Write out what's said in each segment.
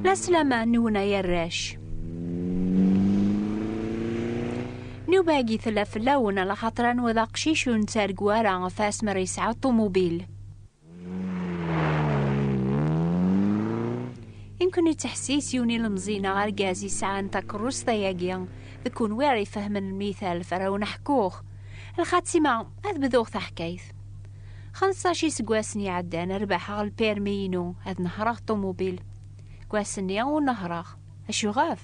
La slama nwen ay arrac. Nubagi tella fell-awen ala xaṭer anwa d aqcic ur nettargu ara ɣef asmer yesɛa ṭumubil. Imken ittḥessis yiwen ilemẓi neɣ argaz yesɛan takeṛṛust ayagi, d kunwi ara ifehmen lmithal farawen aḥekkuɣ. Lxatima, ad bduɣ taḥkayt. Xemsac iseggasen iɛeddan rebḥeɣ lpirmi-inu ad nehreɣ ṭumubil. Deg ass-nni ur nehreɣ. Acu ɣef?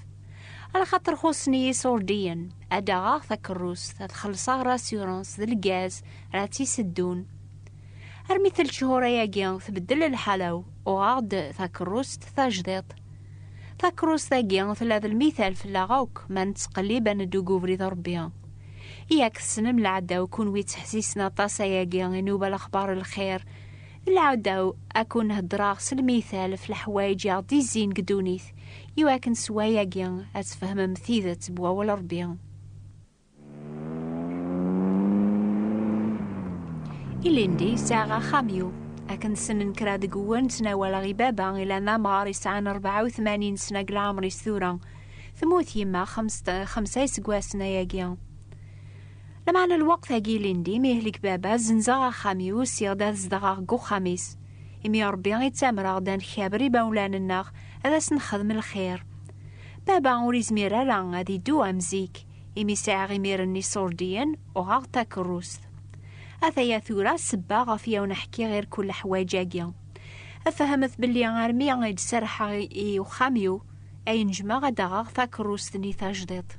Ala xaṭer xuṣṣen-iyi iṣurdiyen. Ad d-aɣeɣ takeṛṛust, ad xellṣeɣ rasurans d lgaz ara tt-iseddun. Armi tel cchur-ayagi tbeddel lḥala-w, uɣeɣ-d takeṛṛust tajdiṭ. Takeṛṛust-agi tella d lmithal fell-aɣ akk ma nettqellib ad neddu deg ubrid n Ṛebbi. Yak tessnem lɛadaw kunwi ttḥessisen aṭas ayagi i nuba lexbar lxir. D lɛadaw ad kun-heddreɣ s lmital ɣef leḥwayeǧ i aɣ-d-izzin deg ddunit i wakken s wayagi ad tfehmem tidet n wawal Rebbi. Ilindi sɛiɣ axxam yu. Akken tessnen kra deg-wen ttnawaleɣ i baba ilan d amɣar yesɛan rebɛa u tmanin sna deg leɛmer-is tura. Tmut yemma xemsa iseggasen ayagi. Lameɛna lweqt-agi ilindi mi yehlek baba, zenzeɣ axxam-iw, usiɣ-d ad zedɣeɣ deg uxxam-is. Imi Rebbi ittamer-aɣ-d ad nkaber imawlan-nneɣ, ad asen-nexdem lxir. Baba ur izmir ara ad iddu am zik, imi sɛiɣ imir n iṣurdiyen, uɣeɣ-d takerrust. Ataya tura sebba ɣef i awen-ḥkiɣ irku leḥwaǧ-agi. Fehmet belli armi i d-serrḥeɣ i uxxam-iw, ay nejmeɣ ad d-aɣeɣ takeṛṛust-nni tajdiṭ.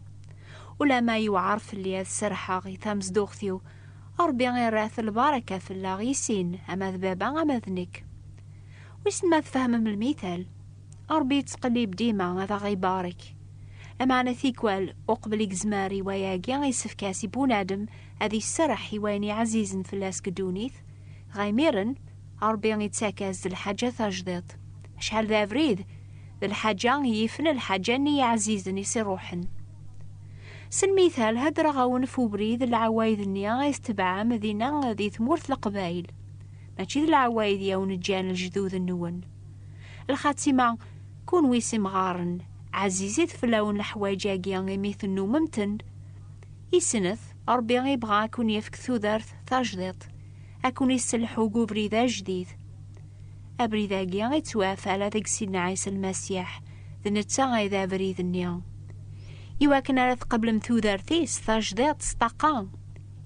Ulamma yewɛeṛ fell-i ad serrḥeɣ i tamezduɣt-iw, Ṛebbi irret lbaṛaka fell-aɣ i sin, ama d baba ama d nekk. Wissen ma tfehmem lmital? Ṛebbi yettqellib dima ad aɣ-ibarek. Lameɛna tikwal, uqbel i yezmer i wayagi, yessefk-as i bunadem ad iserreḥ i wayen iɛzizen fell-as deg ddunit, dɣa imiren, Ṛebbi ittak-as-d lḥaǧa tajdiṭ. Acḥal d abrid, d lḥaǧa yifen lḥaǧa-nni iɛzizen i s-iṛuḥen. S lmithal, heddreɣ-awen f ubrid n lɛawayed-nni i tetbeɛem dinna di tmurt Leqbayel. Mačči d lɛawayed i awen-ǧǧan lejdud-nwen. Lxatima, kunwi s imɣaren, ɛzizit fell-awen leḥwayeǧ-agi imi tennumem-ten. I snat, Ṛebbi ibɣa a kun-yefk tudert tajdiṭ. ad ken-isselḥu deg ubrid ajdid. Abrid-agi ittwaf ala deg Sidna Ɛisa Lmasiḥ, d netta ay d abrid-nni. I wakken ara tqeblem tudert-is tajdiḍt s ṭṭaqa,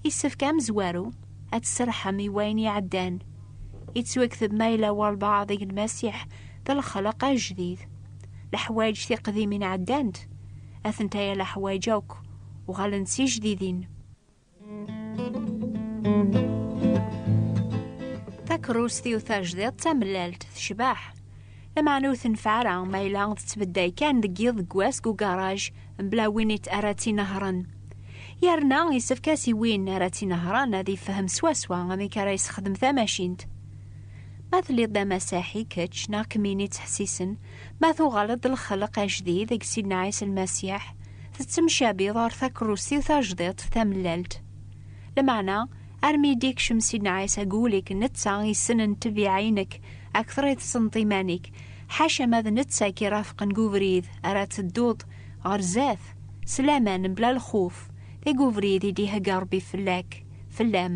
yessefk amezwaru ad tserrḥem i wayen iɛeddan. Yettwakteb ma yella walbaɛḍ deg Lmasiḥ d lexleq ajdid. Leḥwayeǧ tiqdimin ɛeddant, atenta yal aḥwayeǧ akk uɣalent d tijdidin. Takeṛṛust-iw tajdiḍ d tamellalt tecbeḥ. Lameɛna ur tenfeɛ ara ma yella tettbedday kan deg yiḍ deg wass deg ugaṛaj mebla win it ara tt-inehṛen. Yerna yessefk-as i win ara tt-inehṛen ad yefhem swaswa amek ara yessexdem tamacint. Ma telliḍ d amasaḥi kečč neɣ kemmini ttḥessisen, Ma tuɣaleḍ-d lxelq ajdid deg Sidna Ɛisa Lmasiḥ, tettemcabiḍ ɣer takerrust-iw tajdiṭ tamellalt. Lameɛna, armi i d-ikcem Sidna Ɛisa deg wul-ik, netta i yessnen ttbiɛa-inek akteṛ i tessneḍ iman-ik, ḥaca ma d netta i k-irafqen deg ubrid ara tedduḍ ɣer zdat, s laman, mebla lxuf, deg ubrid i d-ihegga Ṛebbi fell-ak, fell-am.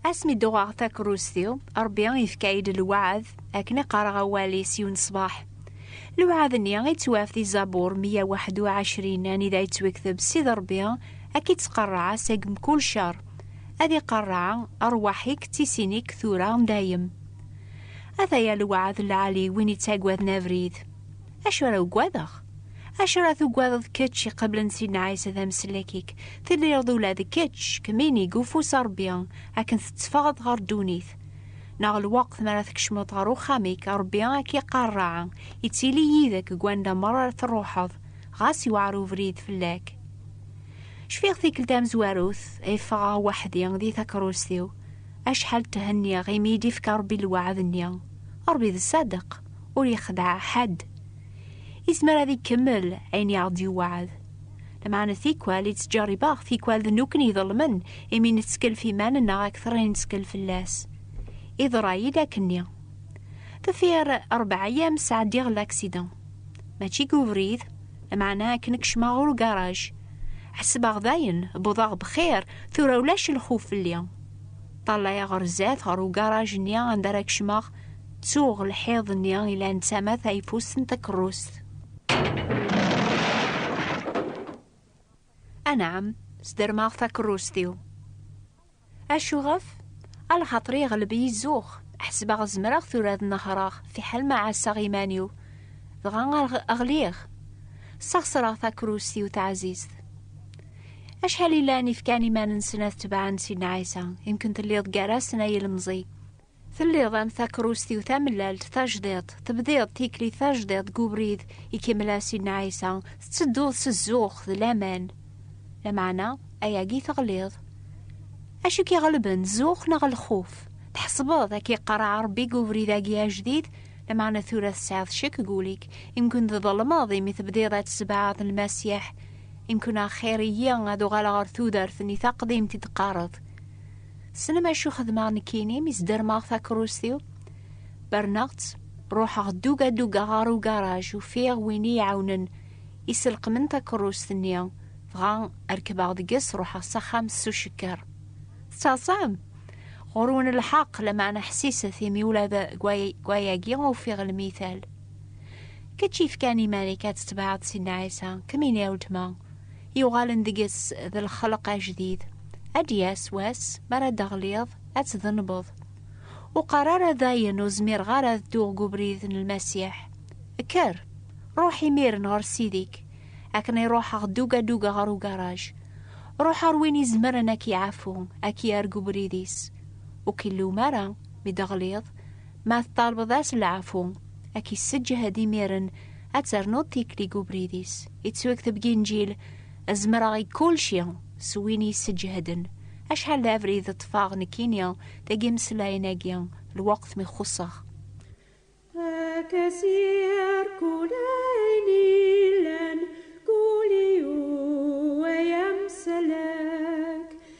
Asmi d-uɣeɣ takerrust-iw, Ṛebbi yefka-yi-d lweɛd akken i qqareɣ awal-is yiwen ṣṣbeḥ. Lweɛd-nni ittwaf di Zabur 121 anida yettwekteb Ssid Ṛebbi ad k-ittqerreɛ seg mkul ccer, ad iqerreɛ rrwaḥ-ik d tisin-ik tura dayem. Ataya lweɛd lɛali i win ittaggaden abrid. Acu ara ugadeɣ? Acu ara tugadeḍ kečč iqeblen Sidna Ɛisa d amsellek-ik? Tedriḍ ula d kečč, kemmini deg ufus n Ṛebbi, akken tetteffɣeḍ ɣer ddunit. Neɣ lweqt mi ara tkecmeḍ ɣer uxxam-ik, Ṛebbi ad k-iqarreɛ, ittili yid-k deg wanda meṛṛa ara tṛuḥeḍ, ɣas yewɛer ubrid fell-ak. Cfiɣ tikkelt tamezwarut ay ffɣeɣ weḥd-i di takeṛṛust-iw, acḥal thenniɣ imi i d-yefka Ṛebbi lweɛd-nni. Ṛebbi d ṣṣadeq. ur yexdeɛ ḥedd. Izmer ad ikemmel ayen i aɣ-d-yewɛed. Lameɛna tikwal i tt-ǧerribeɣ, tikwal d nukkni iḍelmen imi nettkellef iman-nneɣ akteṛ i nettkel fell-as. Iḍerra-yi-d akkenni. Deffir ṛebɛa ayyam sɛeddiɣ laksidan. Mačči deg ubrid, lameɛna akken i kecmeɣ ɣer ugaṛaj. Ḥesbeɣ dayen wwḍeɣ bxir, tura ulac lxuf fell-i. Ṭṭalayeɣ ɣer zdat ɣer ugaṛaj-nni anda ara kecmeɣ, Ttuɣ lḥiḍ-nni ilan tama tayeffust n takerrust. Anɛam, sdermeɣ takerrust-iw. Acuɣef? A lxaṭer iɣleb-iyi zzux, ḥesbeɣ zemreɣ tura ad nehreɣ fiḥel ma ɛasseɣ iman-iw, dɣa ɣliɣ. Ssaɣesreɣ takerrust-iw taɛzizt. Acḥal i llan ifkan iman-nsen ad tebɛen Sidna Ɛisa, imken telliḍ gar-asen ay ilemẓi. Telliḍ am takerrust-iw tamellalt, tajdiḍt, tebdiḍ tikli tajdiḍ deg ubrid, ikemmel-as Sidna Ɛisa, tettedduḍ s zzux d laman. Lameɛna, ayagi teɣliḍ. Acu k-iɣelben, zzux neɣ lxuf? Tḥesbeḍ ad k-iqerreɛ Rebbi deg ubrid-agi ajdid? Lameɛna tura tesɛiḍ ccek deg wul-ik, imkun tḍelmeḍ imi tebdiḍ ad tessebɛaḍ Lmasiḥ. Imkun axir-iyi ad uɣaleɣ ɣer tudert-nni taqdimt i d-teqqareḍ. Tessnem acu xedmeɣ nekkini mi sdermeɣ takerrust-iw? Berneɣ-tt, ruḥeɣ duga duga ɣer ugaraj, ufiɣ win i iɛawnen iselqmen takerrust-nni, dɣa rekbeɣ deg-s ruḥeɣ s axxam s ucekker. Tettaẓam? Ɣur-wen lḥeqq, lameɛna ḥsiset, imi ula d gwayagi ufiɣ lmital. Kečč yefkan iman-ik ad tetbeɛeḍ Sidna Ɛisa, kemmini a weltma. yuɣalen deg-s d lxelq ajdid ad d-yas wass mi ara d-teɣliḍ ad tdenbeḍ ur qqar ara dayen ur zmireɣ ara ad dduɣ deg ubrid n lmasiḥ kker ruḥ imiren ɣer sidi-k akken i ruḥeɣ duga duga ɣer ugaraj ruḥ ɣer win izemren ad k-iɛafu ad k-yerr deg ubrid-is ur k-illum ara mi d-teɣliḍ Ma teṭṭalbeḍ-as leɛfu, ad k-isseǧhed imiren, ad ternuḍ tikli deg ubrid-is. Yettwekteb deg Inǧil, Zemreɣ i kulci s win i yesseǧheden. Acḥal d abrid ṭṭfeɣ nekkini deg yimeslayen-agi, lweqt mi xuṣṣeɣ. Ad k-as-yerr kul ayen yellan, kul yiwen ay amsalak.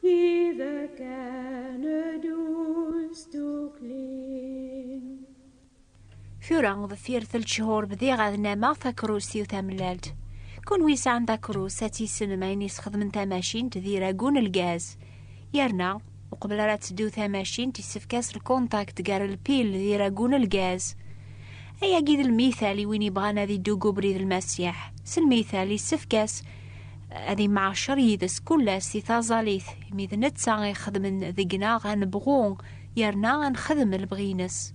Tidak kane dus dduklin. Tura deffir tel cehur bdiɣ ad nameɣ takerrust-iw tamellalt. Kunwi yesɛan takerrust ad tissnem ayen yesxedmen tamacint d iragu n lgaz. Yerna, uqbel ara teddu tamacint yessefk-as lkuntakt gar lpil d iragu n lgaz. Ayagi d lmital i win yebɣan ad idug ubrid lmasiḥ. S lmital yessefk-as ad imɛacer yid-s kullas di taẓalit, imi d netta i xedmen deg-neɣ ad nebɣu yerna ad nexdem lebɣi-ines.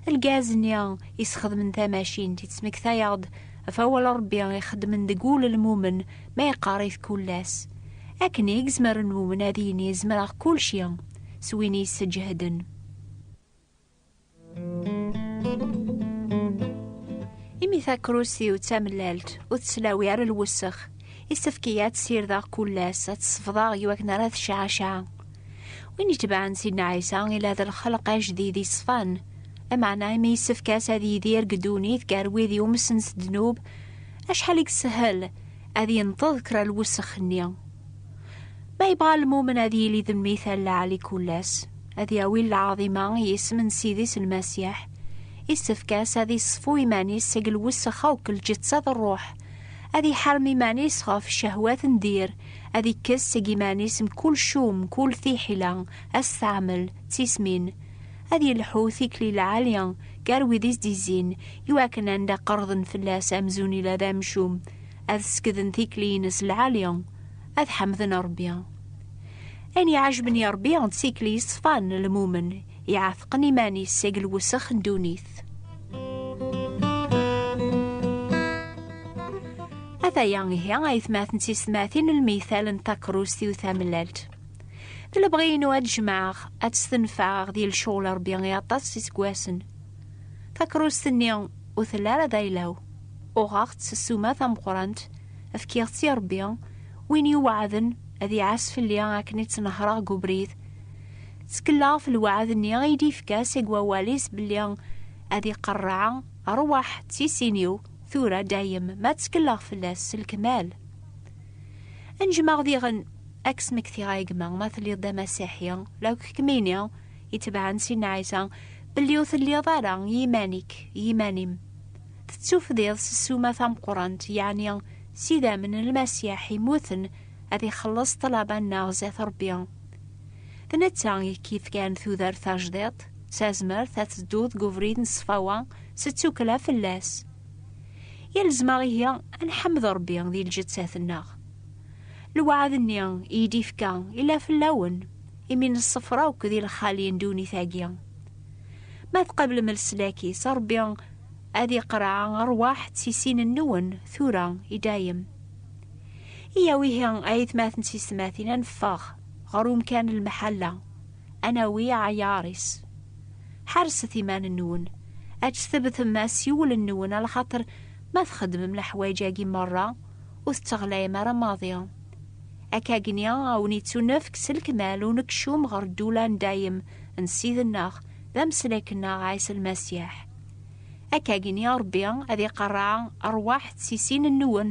Lgaz-nni i sxedmen tamacint yettmektayeɣ-d ɣef awal n Rebbi i xedmen deg wul n lmumen ma yeqqar-it kullas. Akken i yezmer lmumen ad yini zemreɣ kulci s win i yesseǧehden. Imi takrusiw d tamellalt ur teslawi ara lwessex, isefk-iyi ad tt-sirdeɣ kul ass, ad tt-sefḍeɣ i wakken ara tecɛacaɛ. Win itebɛen Sidna Ɛisa ila d lxelq ajdid iṣfan, lameɛna imi yessefk-as ad yidir deg ddunit gar wid yumsen s ddnub, acḥal i yeshel ad yenṭeḍ kra lwessex-nni. Ma yebɣa lmumen ad yili d mmi talaɛli kul ass, ad yawi lɛaḍima i yisem n Sidi-s Lmasiḥ, isefk-as ad iṣfu iman-is seg lwessex akk n lǧeţţa d ṛṛuḥ, ad iḥarem iman-is ɣef ccehwat n dir, ad ikkes seg iman-is mkul cum, mkul tiḥila, asteɛmel, d tismin, ad yelḥu tikli lɛali gar wid i s-d-izzin, iwakken anda qerḍen fell-as amzun ila d amcum, ad sekden tikli-ines lɛali, ad ḥemden Ṛebbi. Ayen iɛajben i Ṛebbi d tikli yeṣfan lmumen, iɛatqen iman-is seg lwesx n ddunit. Ataya ihi aytmaten d tiysetmatin lmithal n takruzt-iw tamellalt. D lebɣi-inu ad jemɛeɣ, ad tt-tenfeɛeɣ di lecɣal Ṛebbi i aṭas iseggasen. Takruzt-nni ur telli ara d ayla-w. Uɣeɣ-tt s ssuma tameqqrant, fkiɣ-tt i Ṛebbi, win yuɛaden, ad iɛas fell-i akken i tt-nehreɣ deg ubrid. Ttkellɣ ɣef lweɛd-nni i d-yefka seg wawal-is belli ad iqerreɛ, Rwaḥ d tisin-iw, tura dayem ma ttkellɣ fell-as s lekmal. Anejmaɣ diɣen, ad k-smektiɣ a gma, ma telliḍ d amasiḥi, la akk kemmini itebɛen Sidna Ɛisa, belli ur telliḍ ara i yiman-ik, i yiman-im. Tettufdiḍ s ssuma tameqqrant, yeɛni s idammen n Lmasiḥ immuten, ad ixelleṣ ṭṭlaba-nneɣ zdat Ṛebbi. D netta i k-yefkan tudert tajdiṭ, s tazmert ad tedduḍ deg ubrid n ṣṣfawa s ttukkla fell-as. Yalzem-aɣ ihi ad nḥemmed Ṛebbi di lǧettat-nneɣ. Lweɛd-nni i yi-d-ifka yella fell-awen, imi neṣṣeffer akk di lxali n ddunit-agi. Ma tqablem leslak-is, Ṛebbi ad iqreɛ ṛṛwaḥ d tisin-nwen tura i dayem. Iya wihi ay atmaten s yesmatin ad neffeɣ ɣer umkan lmeḥalla, ad nawi aɛyaṛ-is. Ḥerset iman-nwen, ad tessebtem asiwel-nwen a lxaṭer ma txeddmem leḥwayeǧ-agi merra ur tetteɣlayem ara maḍi. Akkagni a wen-ittunefk s lekmal unekcum ɣer ddula n dayem n Ssid-nneɣ d ameslek-nneɣ Ɛisa Lmasiḥ. Akkagni Ṛebbi ad iqerreɛ aṛwaḥ d tisin-nwen